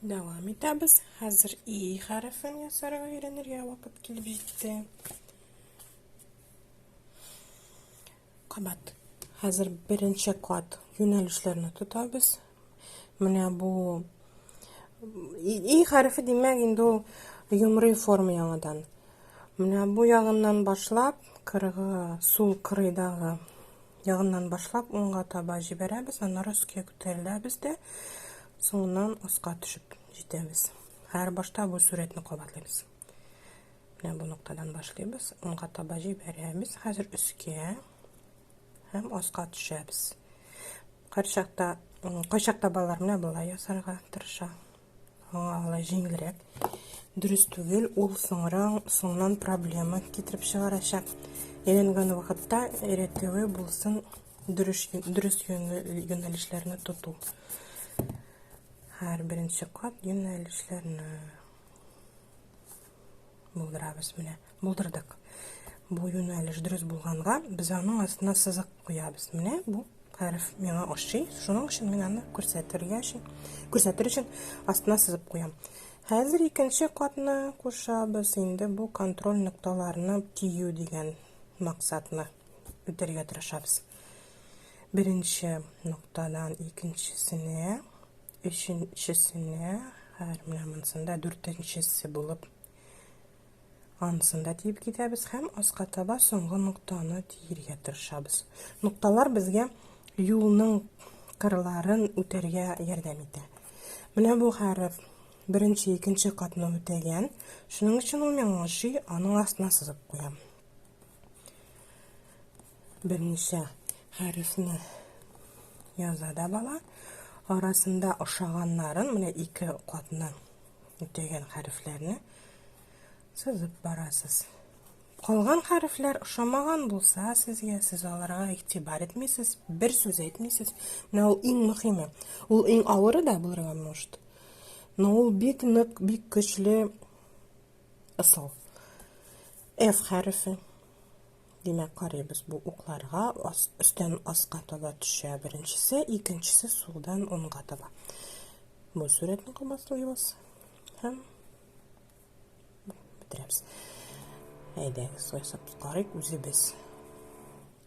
Дәвам итәбез. Хәзер и хәрефен ясарга өйрәнергә вакыт килеп җитте. Кабат. Хәзер беренче кат юнәлешләрне тотабыз. Менә бу и хәрефе димәк инде ул йомры форма яңадан. Менә бу ягыннан башлап, кырыгы сул кырыйдагы ягыннан башлап уңга таба җибәрәбез, аннары өскә күтәреләбез дә Соңыннан аска төшеп җитәбез. Һәр башта бу сурәтне кабатлыйбыз. Менә бу ноктадан башлыйбыз. Уңга таба җибәрәбез. Хәзер өскә һәм аска төшәбез. Кайчакта кайчакта балалар менә болай ясарга тырыша. Аңа алай җиңелрәк. Дөрес түгел, ул соңран соңнан проблема китереп чыгарачак. Әйләнгән вакытта рәтәве булсын дөрес, дөрес юнәлешләрне тоту. Һәр беренче кат юнәлешләрне булдырабыз. Менә булдырдык. Бу юнәлеш дөрес булганга, без аның астына сызык куябыз. Менә бу хәреф миңа ошый. Шуның өчен мин аны күрсәтергә өчен, күрсәтер өчен астына сызып куям. Хәзер икенче катны кушабыз. Инде бу контроль нокталарны тию дигән максатны үтәргә тырышабыз. Беренче ноктадан икенчесенә, өченчесенә, хәзер менә монсында дүртенчесе булып анысында тиеп китәбез һәм аска таба соңгы ноктаны тиергә тырышабыз. Нокталар безгә юлның кырларын үтәргә ярдәм итә. Менә бу хәреф беренче, икенче катны үтәгән. Шуның өчен ул миңа ошый, аның астына сызып куям. Беренче хәрефне яза да бала. Арасында ошаганнарын, менә ике катны үтәгән хәрефләрне сызып барасыз. Калган хәрефләр ошамаган булса сезгә, сез аларга игътибар итмисез, бер сүз әйтмисез. Менә ул иң мөһиме. Ул иң авыры да булырга может. Но ул бик нык, бик көчле Ысул. F хәрефе. Димәк, карыйбыз бу укларга ас, өстән аска таба төшә беренчесе, икенчесе сулдан уңга таба. Бу сурәтне кабатлыйбыз һәм бетерәбез. Әйдәгез, ясап карыйк үзебез.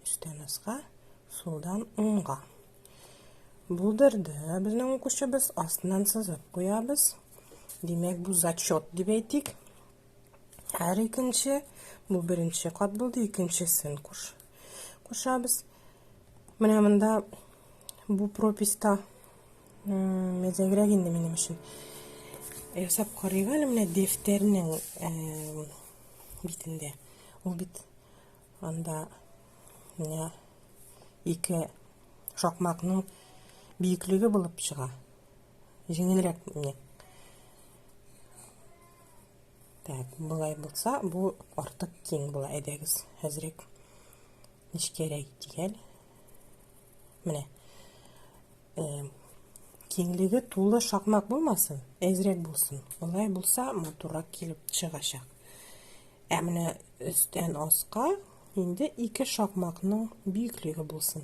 Өстән аска, сулдан уңга. Булдырды. Безнең укучыбыз астыннан сызып куябыз. Димәк, бу зачет дип әйтик. Һәр икенче, бу беренче кат булды, икенчесен куш. Кушабыз. Менә монда бу прописта мәзәгрәк инде минем өчен. Ясап карыйк әле менә дәфтәрнең битендә. Ул бит анда менә ике шакмакның биеклеге булып чыга. җиңелрәк менә. Так, болай булса, бу артык киң була, әйдәгез, әзрәк нечкәрәк итик әле. Менә. Э, киңлеге тулы шакмак булмасын, әзрәк булсын. Болай булса, матуррак килеп чыгачак. Ә менә өстән аска инде ике шакмакның бөеклеге булсын.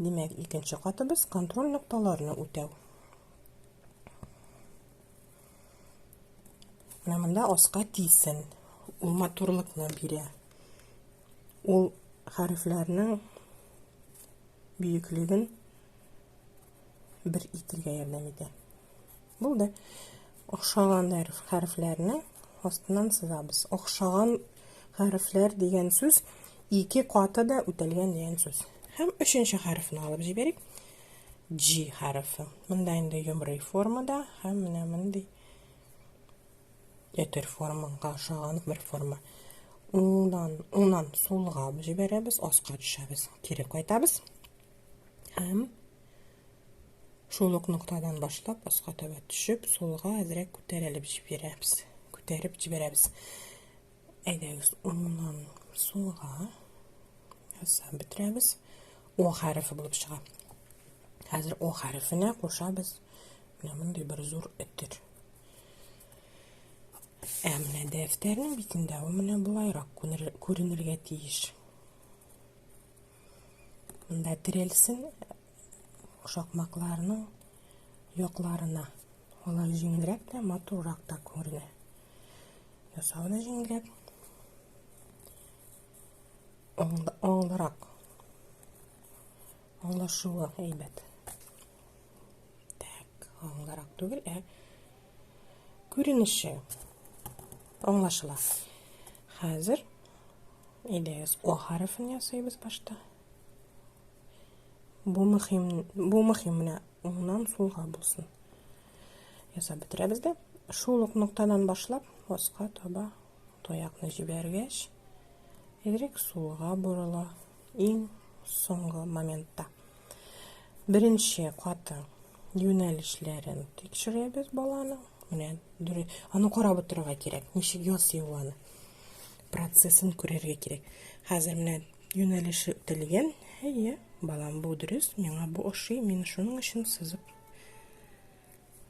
Димәк, икенче катыбыз контроль нокталарны үтәү. Менә монда аска тисен. Ул матурлыкны бирә. Ул хәрефләрнең бөеклеген бер итергә ярдәм итә. Булды. Охшаган хәрефләрне астыннан сызабыз. Охшаган хәрефләр дигән сүз ике каты да үтәлгән дигән сүз. Һәм өченче хәрефне алып җибәрик. G хәрефе. Монда инде йомрый формада һәм менә мондый ятер формага ошаган бер форма. Уннан, уннан сулга җибәрәбез, аска төшәбез, кире кайтабыз. Һәм Шул ук ноктадан башлап аска таба төшеп, сулга әзрәк күтәрелеп җибәрәбез. Күтәреп җибәрәбез. Әйдәгез, уңнан сулга ясап бетерәбез. О хәрефе булып чыга. Хәзер О хәрефенә кушабыз менә мондый бер зур өтер. Ә менә дәфтәрнең битендә ул менә болайрак күренергә тиеш. Монда терелсен шакмакларның якларына. Алар җиңелрәк тә, матуррак та күренә. Ясау да җиңелрәк. Аңлырак. Аңлашуы әйбәт. Так, аңлырак түгел, ә күренеше аңлашыла. Хәзер Әйдәгез, О хәрефен ясыйбыз башта. Бу мөһим, бу мөһим менә уңнан сулга булсын. Ясап бетерәбез дә. Шул ук ноктадан башлап, аска таба таякны җибәргәч, Y сулга борыла иң соңгы моментта. Беренче каты юнәлешләрен тикшерәбез баланың. Менә аны карап утырырга кирәк, ничек ясый ул аны. процессын күрергә кирәк. Хәзер менә юнәлеше үтелгән. Әйе, балам, бу дөрес, миңа бу ошый, мин шуның өчен сызып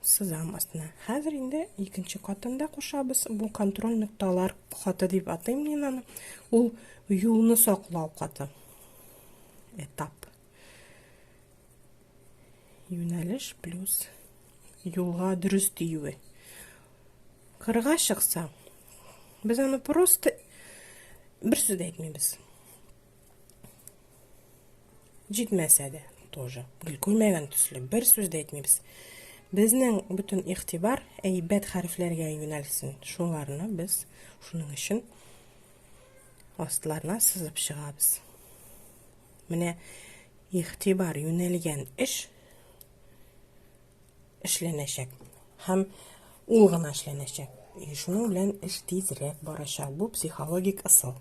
сызам астына. Хәзер инде икенче катында кушабыз. Бу контроль нокталар каты дип атыйм мин аны. Ул юлны саклау каты. Этап. Юнәлеш плюс юлга дөрес тиюе. Кырга чыкса, без аны просто бер сүз дә әйтмибез. Җитмәсә дә тоже. Гел күрмәгән төсле бер сүз дә әйтмибез. Безнең бөтен игътибар әйбәт хәрефләргә юнәлсен. Шуларны без шуның өчен астларына сызып чыгабыз. Менә игътибар юнәлгән эш эшләнәчәк һәм ул гына эшләнәчәк. И шуның белән эш тизрәк барачак. Бу психологик ысул.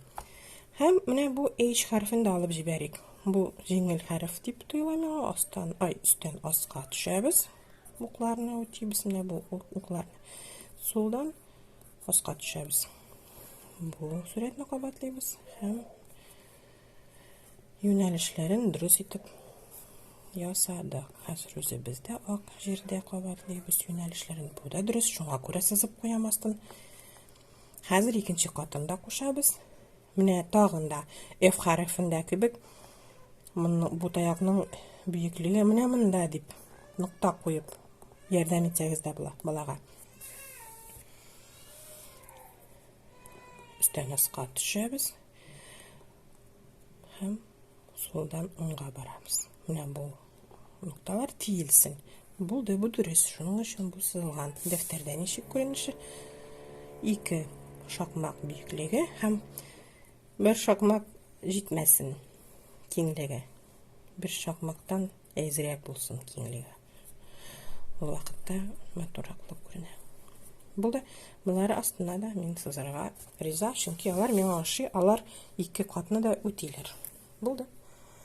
Һәм менә бу H хәрфен дә алып җибәрик. Бу җиңел хәреф дип тоела миңа. Астан, ай, өстән аска төшәбез. Укларны үтибез. Менә бу уклар. Сулдан аска төшәбез. Бу сурәтне кабатлыйбыз һәм Юнәлешләрен дөрес итеп ясадык. Хәзер үзебездә ак җирдә кабатлыйбыз юнәлешләрен. Бу да дөрес, шуңа күрә сызып куям астын. Хәзер икенче катын да кушабыз. Менә тагын да F хәрефендә кебек бу таякның биеклеге менә монда дип нокта куеп ярдәм итсәгез дә була балага. Өстән аска төшәбез. Һәм солдан уңга барабыз. Менә бу нокталар тиелсен. Булды, бу дөрес. Шуның өчен бу сызылган. Дәфтәрдә ничек күренеше? Ике шакмак биеклеге һәм бер шакмак җитмәсен киңлеге. Бер шакмактан Әзрәк булсын киңлеге. Ул вакытта матурак булып күренә. Бу да болары астына да мин сызарга риза, чөнки алар миңа ошый, алар ике катны да үтиләр. Булды.